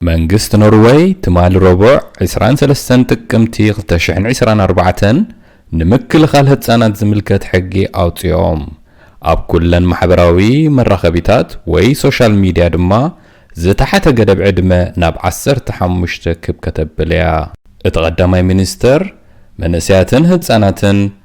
መንግስቲ ኖርወይ ትማሊ ረቡዕ 23 ጥቅምቲ 2024 ንምክልኻል ህጻናት ዝምልከት ሕጊ ኣውጺኦም ኣብ ኩለን ማሕበራዊ መራኸቢታት ወይ ሶሻል ሚድያ ድማ ዝተሓተ ገደብ ዕድመ ናብ 15 ክብ ከተብል እያ። እቲ ቀዳማይ ሚኒስተር መንእሰያትን ህጻናትን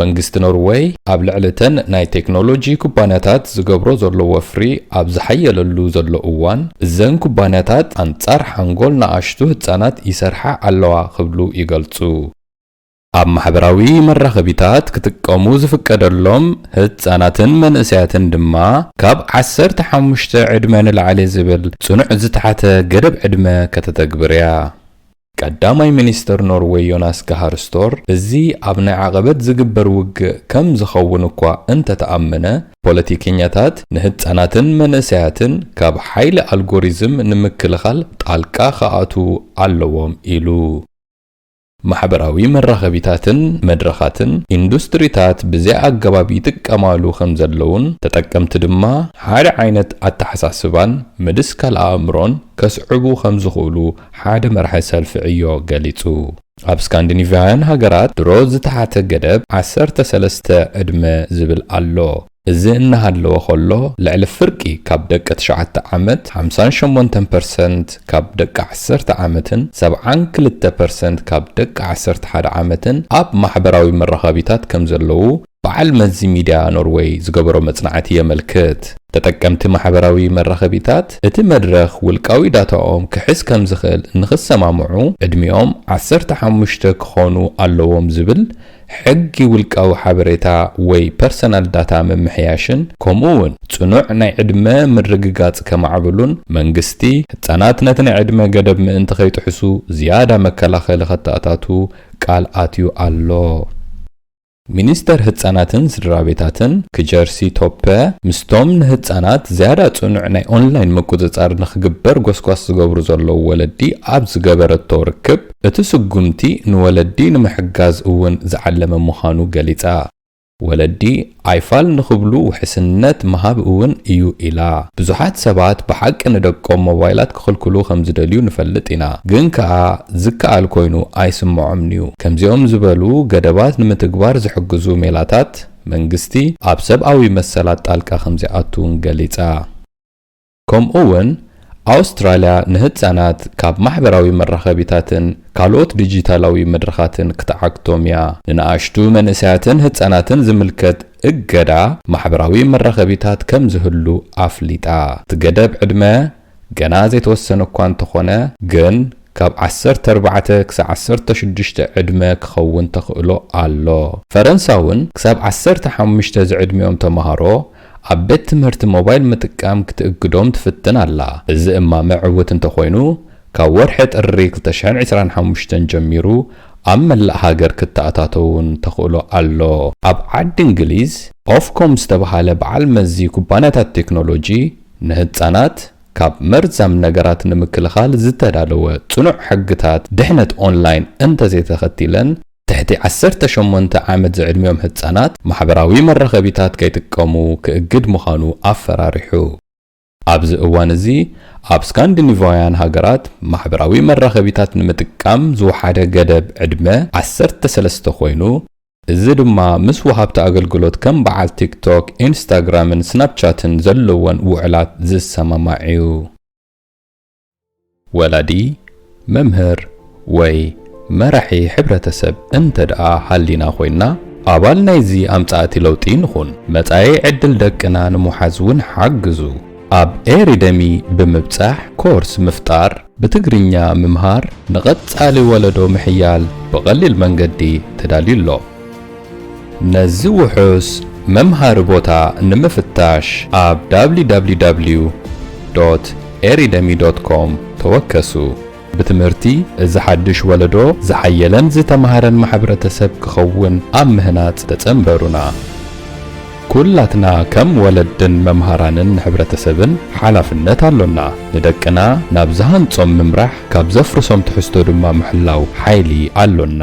መንግስቲ ኖርወይ ኣብ ልዕሊ እተን ናይ ቴክኖሎጂ ኩባንያታት ዝገብሮ ዘሎ ወፍሪ ኣብ ዝሓየለሉ ዘሎ እዋን፣ እዘን ኩባንያታት ኣንጻር ሓንጎል ንኣሽቱ ህጻናት ይሰርሓ ኣለዋ ክብሉ ይገልጹ። ኣብ ማሕበራዊ መራኸቢታት ክጥቀሙ ዝፍቀደሎም ህጻናትን መንእሰያትን ድማ ካብ ዓሰርተ ሓሙሽተ ዕድመ ንላዕሊ ዝብል ጽኑዕ ዝተሓተ ገደብ ዕድመ ከተተግብር'ያ። ቀዳማይ ሚኒስተር ኖርወይ ዮናስ ጋሃር ስቶር፣ እዚ ኣብ ናይ ዓቐበት ዝግበር ውግእ ከም ዝኸውን እኳ እንተ ተኣመነ፣ ፖለቲከኛታት ንህጻናትን መንእሰያትን ካብ ሓይሊ ኣልጎሪዝም ንምክልኻል ጣልቃ ክኣትዉ ኣለዎም ኢሉ። ማሕበራዊ መራኸቢታትን መድረኻትን ኢንዱስትሪታት ብዘይ ኣገባብ ይጥቀማሉ ከም ዘለዉን፣ ተጠቀምቲ ድማ ሓደ ዓይነት ኣተሓሳስባን ምድስካል ኣእምሮን ከስዕቡ ከም ዝኽእሉ ሓደ መራሒ ሰልፊ ዕዮ ገሊጹ። ኣብ ስካንዲኒቭያውያን ሃገራት ድሮ ዝተሓተ ገደብ ዓሰርተ ሰለስተ ዕድመ ዝብል ኣሎ። እዚ እናሃለወ ከሎ ልዕሊ ፍርቂ ካብ ደቂ ትሽዓተ ዓመት፣ ሓምሳን ሸሞንተን ፐርሰንት ካብ ደቂ ዓሰርተ ዓመትን ሰብዓን ክልተ ፐርሰንት ካብ ደቂ ዓሰርተ ሓደ ዓመትን ኣብ ማሕበራዊ መራኸቢታት ከምዘለዉ በዓል መዚ ሚድያ ኖርወይ ዝገበሮ መጽናዕቲ የመልክት። ተጠቀምቲ ማሕበራዊ መራኸቢታት እቲ መድረኽ ውልቃዊ ዳታኦም ክሕዝ ከም ዝኽእል ንኽሰማምዑ ዕድሚኦም ዓሰርተ ሓሙሽተ ክኾኑ ኣለዎም ዝብል ሕጊ ውልቃዊ ሓበሬታ ወይ ፐርሰናል ዳታ ምምሕያሽን ከምኡ እውን ጽኑዕ ናይ ዕድመ ምርግጋጽ ከማዕብሉን መንግስቲ ህጻናት ነቲ ናይ ዕድመ ገደብ ምእንቲ ከይጥሕሱ ዝያዳ መከላኸሊ ከተኣታቱ ቃል ኣትዩ ኣሎ። ሚኒስተር ህጻናትን ስድራቤታትን ክጀርሲ ቶፐ ምስቶም ንህጻናት ዝያዳ ጽኑዕ ናይ ኦንላይን ምቁጽጻር ንኽግበር ጎስጓስ ዝገብሩ ዘለዉ ወለዲ ኣብ ዝገበረቶ ርክብ፣ እቲ ስጉምቲ ንወለዲ ንምሕጋዝ እውን ዝዓለመ ምዃኑ ገሊጻ። ወለዲ ኣይፋል ንኽብሉ ውሕስነት ምሃብ እውን እዩ ኢላ። ብዙሓት ሰባት ብሓቂ ንደቆም ሞባይላት፣ ክኽልክሉ ከም ዝደልዩ ንፈልጥ ኢና። ግን ከኣ ዝከኣል ኮይኑ ኣይስምዖምን'ዩ። ከምዚኦም ዝበሉ ገደባት ንምትግባር ዝሕግዙ ሜላታት፣ መንግስቲ ኣብ ሰብኣዊ መሰላት ጣልቃ ከም ዘይኣቱ'ውን ገሊጻ። ከምኡ'ውን ኣውስትራልያ ንህጻናት ካብ ማሕበራዊ መራኸቢታትን ካልኦት ዲጂታላዊ መድረኻትን ክትዓግቶም'ያ። ንንኣሽቱ መንእሰያትን ህጻናትን ዝምልከት እገዳ ማሕበራዊ መራኸቢታት ከም ዝህሉ ኣፍሊጣ። እቲ ገደብ ዕድመ ገና ዘይተወሰነ እኳ እንተኾነ ግን ካብ ዓሰርተ ኣርባዕተ ክሳዕ ዓሰርተ ሽዱሽተ ዕድመ ክኸውን ተኽእሎ ኣሎ። ፈረንሳ'ውን ክሳብ ዓሰርተ ሓሙሽተ ዝዕድሚኦም ተማሃሮ ኣብ ቤት ትምህርቲ ሞባይል ምጥቃም ክትእግዶም ትፍትን ኣላ። እዚ እማመ ዕውት እንተኾይኑ ካብ ወርሒ ጥሪ ክልተ ሽሕን ዕስራን ሓሙሽተን ጀሚሩ ኣብ መላእ ሃገር ክተኣታቶ'ውን ተኽእሎ ኣሎ። ኣብ ዓዲ እንግሊዝ ኦፍኮም ዝተብሃለ በዓል መዚ ኩባንያታት ቴክኖሎጂ ንህጻናት ካብ መርዛም ነገራት ንምክልኻል ዝተዳለወ ጽኑዕ ሕግታት ድሕነት ኦንላይን እንተዘይተኸቲለን፣ ትሕቲ ዓሰርተ ሸሞንተ ዓመት ዝዕድሚኦም ህጻናት ማሕበራዊ መራኸቢታት ከይጥቀሙ ክእግድ ምዃኑ ኣፈራሪሑ። ኣብዚ እዋን'ዚ ኣብ ስካንዲኒቫውያን ሃገራት ማሕበራዊ መራኸቢታት ንምጥቃም ዝወሓደ ገደብ ዕድመ ዓሰርተ ሰለስተ ኮይኑ፣ እዚ ድማ ምስ ወሃብቲ ኣገልግሎት ከም በዓል ቲክቶክ፣ ኢንስታግራምን ስናፕቻትን ዘለወን ውዕላት ዝሰማማዕ'ዩ። ወላዲ፣ መምህር ወይ መራሒ ሕብረተሰብ እንተድኣ ሃሊና ኮይንና፣ ኣባል ናይዚ ኣምጻእቲ ለውጢ ንኹን። መጻኢ ዕድል ደቅና ንምውሓዝ'ውን ሓግዙ። ኣብ ኤሪደሚ ብምብጻሕ ኮርስ ምፍጣር። ብትግርኛ ምምሃር ንቐጻሊ ወለዶ ምሕያል ብቐሊል መንገዲ ተዳልዩ ኣሎ። ነዚ ውሑስ መምሃሪ ቦታ ንምፍታሽ ኣብ www ዶት ኤሪደሚ ዶት ኮም ተወከሱ። ብትምህርቲ እዚ ሓድሽ ወለዶ ዝሓየለን ዝተምሃረን ማሕብረተሰብ ክኸውን ኣብ ምህናጽ ተጸንበሩና። ኩላትና ከም ወለድን መምሃራንን ንሕብረተሰብን ሓላፍነት ኣሎና። ንደቅና ናብ ዝሃንጾም ምምራሕ፣ ካብ ዘፍርሶም ትሕዝቶ ድማ ምሕላው ሓይሊ ኣሎና።